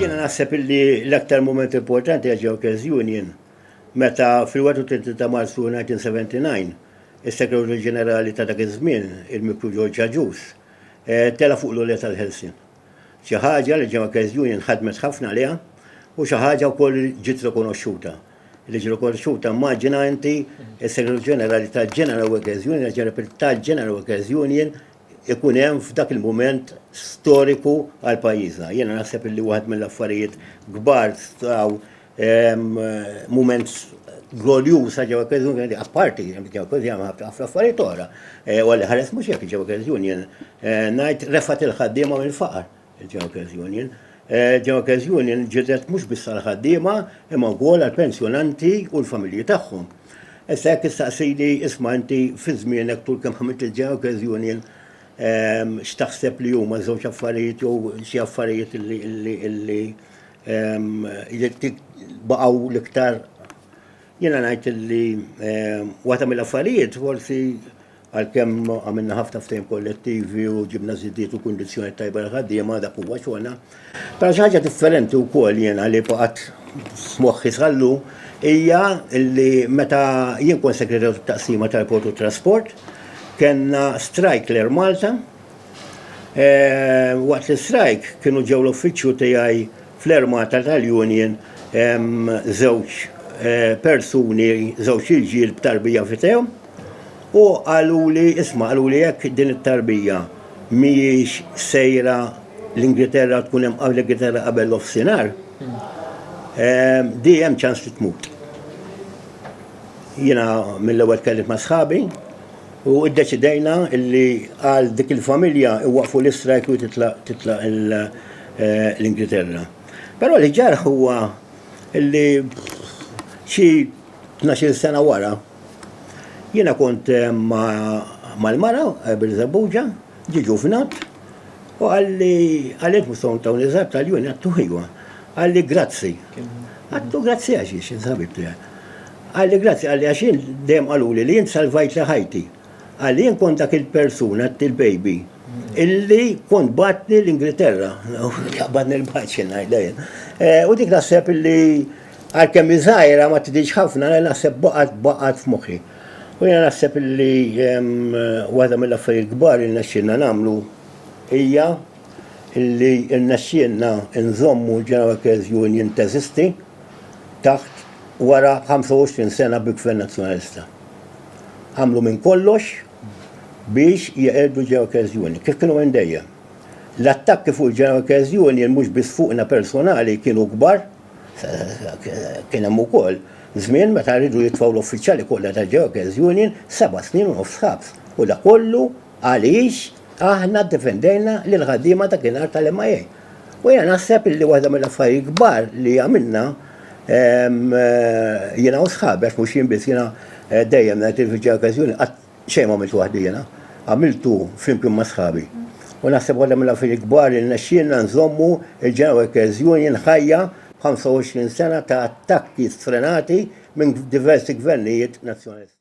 Jiena naħseb li l-aktar moment importanti għal Jokers Union meta fil-31 ta' Marzu 1979 is-Segretarju Ġenerali ta' dak iż-żmien, il-Mikru George Aġus, eh, tela' fuq l-għolja tal-Ħelsien. Xi ħaġa li Jokers Union ħadmet ħafna għaliha u xi ħaġa wkoll li ġiet rikonoxxuta li ġi rikonoxxuta immaġina inti s-Segretarju Ġenerali tal-General Workers Union, tal-General Workers Union ikun hemm f'dak il-mument storiku għal pajjiżna. Jiena naħseb illi waħed mill-affarijiet kbar staw ehm, mument glorjuż ta' ġewwa Credit Union, apparti ġewwa Credit Union ħafna affarijiet oħra. Eh, u għalli ħares mhux jekk ġewwa Credit Union eh, ngħid refat il-ħaddiema mill-faqar. Il-Junkers Union Il-Junkers Union ġildet mhux biss għall-ħaddiema imma wkoll għall-pensjonanti u l-familji tagħhom. Issa jekk issaqsini isma' inti fi żmienek tul kemm ħamilt il-Junkers Union x'taħseb li huma żewġ affarijiet jew xi affarijiet li baqgħu l-iktar jiena ngħid li waħda mill-affarijiet forsi Għalkemm għamilna ħafna ftehim kollettivi u ġibna żidiet u kundizzjonijiet tajba għall-ħaddiema, dak huwa xogħolna. Però xi ħaġa differenti wkoll jiena li baqgħet f'moħħi sal-lum hija li meta jien kont segretarju tat-taqsima tal-port u t-trasport, kellna strajk l-Air Malta. Waqt l-istrajk kienu ġew l-uffiċċju tiegħi fl-Air Malta tal-union żewġ persuni, żewġ irġiel b'tarbija f'idejhom, U qaluli, isma' qaluli jekk din it-tarbija mhijiex sejra l-Ingilterra tkun hemm qabel l-Ingilterra qabel l-offsinar, ehm, di hemm ċans li tmut. Jiena mill-ewwel tkellimt ma' sħabi u ddeċidejna li għal dik il-familja iwaqfu l-istrajk u titlaq eh, l-Ingilterra. Però li ġarħ huwa li xi 12 sena wara Jiena kont mal-mara Birżebbuġa, ġie Ġuvnat u qalli, Għalhekk mhux se ntaw niżgħar b'tal-juni? Għedtu, Ejwa. Qalli, Grazzi. Għedtu, Grazzi għax int xi ħabib tiegħi. Qalli, Grazzi, qalli, għax jien dejjem qaluli li int salvajtli ħajti. Qalli, Jien kont dak il-persuna, il-baby, illi kont bagħatni l-Ingilterra. Qbadni l-baċ, jien ngħidha jien. U dik naħseb illi. Għalkemm hi żgħira ma tidhirx ħafna, le naħseb baqgħet baqgħet f'moħħi. U jiena naħseb illi waħda mill-affarijiet kbar li rnexxielna nagħmlu hija illi rnexxielna nżommu l-Genoa Workers Union teżisti taħt wara 25 sena bi Gvern Nazzjonalista. Għamlu minn kollox biex jeqirdu l-Genoa Workers Union, kif kienu minn dejjem. L-attakki fuq il-Genoa Workers Union mhux biss fuqna personali kienu kbar, Kien hemm ukoll żmien meta riedu jitfgħu l-uffiċjali kollha tal-Jokers Union seba' snin u nofs ħabs u dak kollu għaliex aħna ddefendejna lill-ħaddiema dakinhar tal-MIA. U jiena naħseb illi waħda mill-affarijiet kbar li għamilna jiena u sħabi għax mhux jien biss jiena dejjem ngħid il-Jokers Union qatt Xejn ma għamiltu waħdi jiena, għamiltu flimkien ma' sħabi. U naħseb waħda mill-affarijiet kbar li rnexxielna nżommu l-Genoa Workers Union ħajja b'25 sena ta' attakki sfrenati minn diversi gvernijiet Nazzjonalisti.